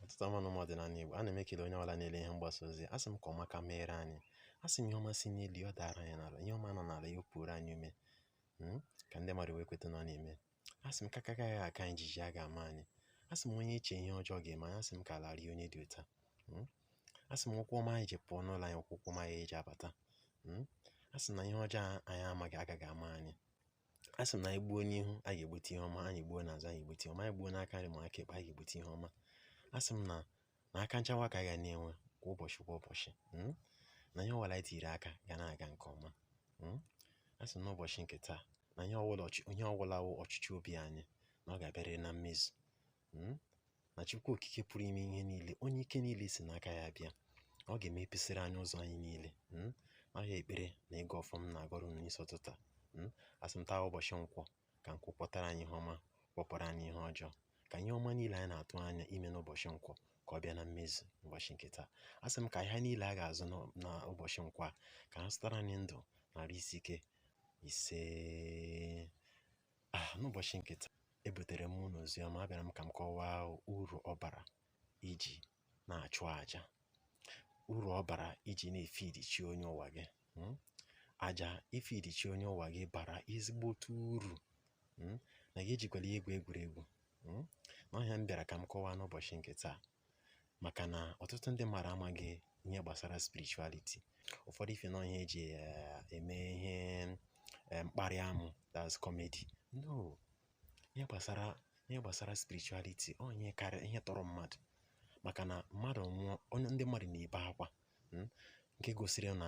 ụtụtụ ọma nụ ụmụ ọdịnala Igbo ana m ekele onye ọbụla na-ele ihe mgbasa ozi asị m ka ọma ka meere anyị asị m ihe ọma si n'elu ya ọ dara anyị n'ala ihe ọma nọ n'ala ya opuoro anyị ome hmm? ka ndị mmadụ wee kweta na ọ na-eme asị m ka aka gaghị aka anyị jiji agaghị ama anyị asị m onye chee ihe ọjọọ ga-eme anyị asị m ka ala rie onye dị otu a hmm? asị m ụkwụ ọma anyị ji pụọ n'ụlọ anyị ụkwụ ọma anyị eji abata hmm? asị na ihe ọjọọ anyị amaghị agaghị ama anyị a sị m na anyị gbuo n'ihu a ga-egbute ihe ọma anyị gbuo n'azụ anyị egbute ihe ọma anyị gbuo n'aka nri ma aka ekpe anyị ga-egbute ihe ọma a sị m na na aka nchawa ka anyị ga na-enwe kwa ụbọchị kwa ụbọchị mm, na ihe ọbụla anyị tiri aka ga na-aga nke ọma mm. a sị m n'ụbọchị nke taa na ihe ọbụla ọchị- ihe ọbụla wụ ọchịchọ obi anyị na ọ ga-abịarịrị na mmezu hmm? na Chukwu Okike pụrụ ime ihe niile onye ike niile si n'aka ya bịa ọ ga-emepesịrị anyị ụzọ anyị niile hmm? ọ ya ekpere na ịgọ ọfọ m na-agọrọ unu n'isi ụtụtụ a hmm? asị m taa ụbọchị nkwọ ka nkwọ kwọtara anyị ihe ọma kwọpụrụ anyị ihe ọjọọ ka ihe ọma niile anyị na-atụ anya ime n'ụbọchị nkwọ ka ọ bịa na mmezu ụbọchị nke taa a sị m ka ihe niile a ga-azụ n'ụbọchị nkwọ a ka ha zụtara anyị ndụ na arụ isi ike isee Ah, n'ụbọchị nke taa ebutere m unu ozi ọma abịara m ka m kọwaa uru ọ bara iji na-achụ aja uru ọ bara iji na-efidi chi onye ụwa gị hmm? aja ifidi chi onye ụwa gị bara ezigbote uru hmm? na gị ejikwala ya egwu egwuregwu hmm? na ọ ihe a m bịara ka m kọwaa n'ụbọchị nke taa maka na ọtụtụ ndị mmadụ amaghị ihe gbasara spirituality ụfọdụ ife na ọ ihe eji eh, eme ihe eh, mkparị amụ that's comedy no ihe gbasara ihe gbasara spirituality ọ ihe karịrị ihe tọrọ mmadụ maka na mmadụ nwụọ onye ndị mmadụ na-ebe akwa mm, nke gosiri na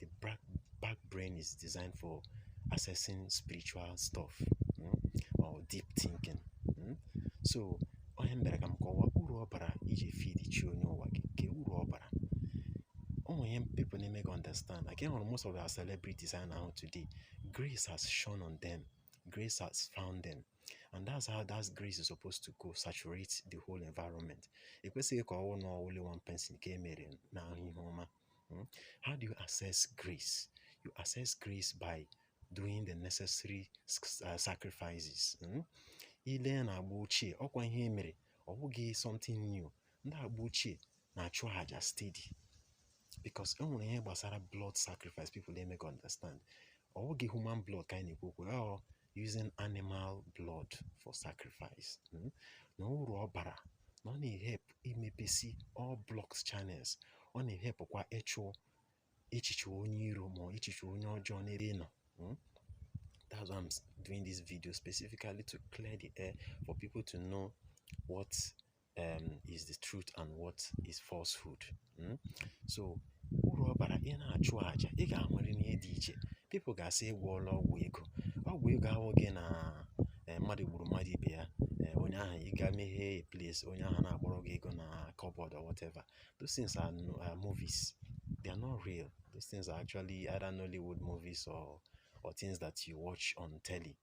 the back, back brain is designed for accessing spiritual stuff mm, or deep thinking. Mm. So, ọ ihe mere ka m kọwaa uru ọ bara iji feed chi onye ụwa gị nke uru ọ bara ọ wụ ihe people na-emeghị understand again hụrụ most of our celebrities a na-ahụ today grace has shone on them grace has found them and that's how that grace is supposed to go saturate the whole environment ekwesịghị ka ọ wụ na only one person ka e mere na-ahụ ihe ọma Hmm? How do you access grace? You access grace by doing the necessary uh, sacrifices. Hmm? I lee na agba ochie, ọkwa ihe e mere, ọ bụghị something new. Ndị agba ochie na-achụ aja steady because e nwere ihe gbasara blood sacrifice people emeghị understand. Ọ bụghị human blood ka anyị na-ekwu okwu ya, using animal blood for sacrifice hmm? na uru ọ bara na ọ na-ehelp imepesi all blocked channels ọ na-ehelpụkwa ịchụ echiche onye iro ma echiche onye ọjọọ n'ebe ị nọ hmm? that's why i'm doing this video specifically to clear the air for people to know what um, is the truth and what is falsehood hmm? so uru ọ bara ị na-achụ aja ị ga-enwere ihe dị iche people ga-asị ị gwọọla ọgwụ ego ọgwụ ego awụghị na eh, mmadụ gburu mmadụ ibe ya eh, onye ahụ ị ga meghee a place onye ahụ na-akpọrọ gị ego na cupboard or whatever those things are, are movies they are not real those things are actually either Nollywood movies or or things that you watch on telly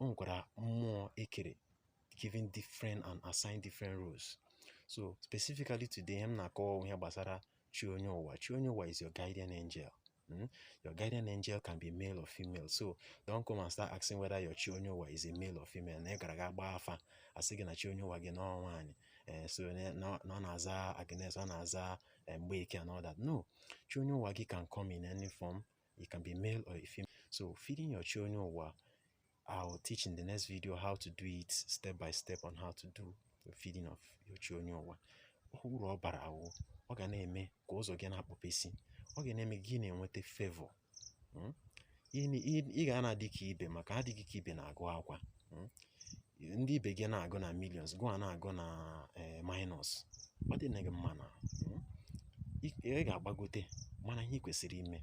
o nwekwara mmụọ ekere given different and assigned different roles so specifically today ihe m na-akọwa ihe gbasara chi onye ụwa chi onye ụwa is your guardian angel Hmm? Your guardian angel can be male or female. So don't come and start asking whether your chi onye ụwa is a male or female. Na ị gara gaa gbaa afa a sị gị na chi onye ụwa gị na ọ nwaanyị eh, so na ọ na-aza Agnes ọ na-aza eh, Mgbeke and all that. No, chi onye ụwa gị can come in any form It can be male or a female. So feeding your chi onye ụwa, I'll teach in the next video how to do it step by step on how to do the feeding of your chi onye ụwa. Uru ọ bara wụ, ọ ga na-eme ka ụzọ gị na-akpọpesi, ọ ga na-eme gị na-enweta favor. Hmm? Ị ga na-adị ka ibe maka adịghị ka ibe na-agụ akwa. hmm? ndị ibe gị na-agụ na millions gịwa na-agụ na eh, minus ọ dị gị mma na hmm? ị ga-agbagote mana ihe ị kwesịrị ime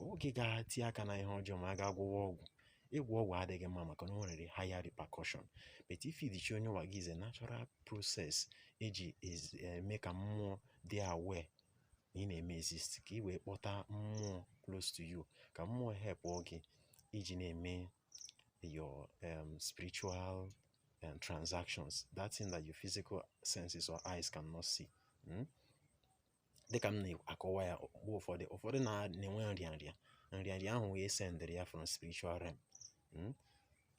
ọọghị ga-eti aka na ihe ọjọọ ma a ga-agwọwa ọgwụ ịgwọ ọgwụ adịghị mma maka na o nwere higher repercussion but ifeed chi onye ụwa gị is a natural process e ji eme eh, ka mmụọ dị aware na ị na-eme exist ka ị wee kpọta mmụọ close to you ka mmụọ help gị iji na-eme your um, spiritual um, transactions, that thing that your physical senses or eyes cannot see. Hmm? Dị ka m na-akọwa ya mgbe ụfọdụ ụfọdụ na-enwe nrịanrịa nrịanrịa ahụ wụ e sendịrị ya from spiritual realm hmm?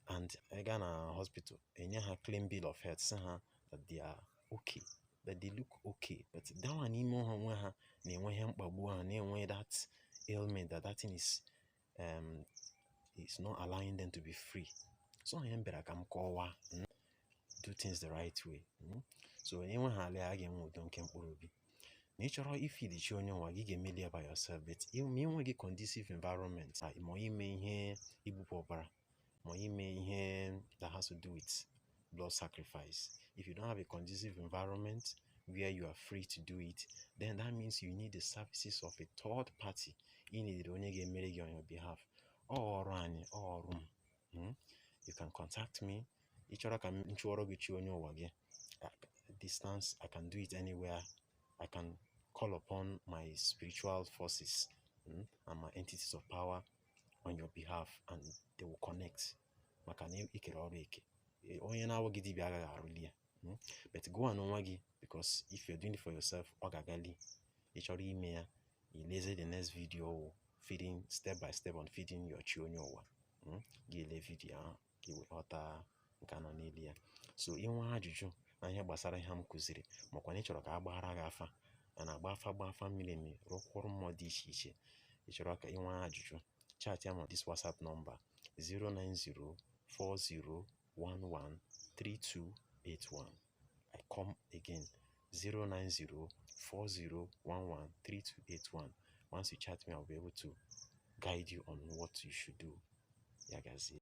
and ị gaa na hospital e nye ha clean bill of health sị ha that they are okay that they look okay but that one n'ime ha nwe ha na-enwe ihe mkpagbu ha na-enwe that ailment that that thing is um it's not allowing them to be free so ihe m bịara ka m kọwaa hmm, do things the right way hmm. so enwe ha ala a ga-enwe udo nke mkpụrụ obi na ị chọrọ ifeed chi onye ụwa gị ị ga-emeli ya by yourself but ma ị nweghị conducive environment ma ime ihe igbupụ ọbara ma ime ihe that has to do with blood sacrifice if you don't have a conducive environment where you are free to do it then that means you need the services of a third party ị needịrị onye ga-emere gị on your behalf ọ ọrụ anyị ọ ọrụ m hmm? you can contact me ị chọrọ ka m chụọrọ gị chi onye ụwa gị distance i can do it anywhere i can call upon my spiritual forces mm, and my entities of power on your behalf and they will connect maka na e kere ọrụ eke e, onye na-awụghị dibịa agaghị arụli ya hmm? but gọwa n'onwe gị because if you're doing it for yourself ọ ga-agali ị chọrọ ime ya i lezie the next video feeding step by step on feeding your chi onye ụwa hmm? gị ele vidio ahụ ka i wee ghọta nke a nọ n'elu ya so i nwee ajụjụ na ihe gbasara ihe m kuziri makwa na ị chọrọ ka a gbaara gị afa a na-agba afa gba afa miri emi rụkwa ọrụ mmụọ dị iche iche ị chọrọ ka i nwee ajụjụ chatịa m na this whatsapp number 09040113281 I come again 09040113281 once you chat me I'll be able to guide you on what you should do ya gazie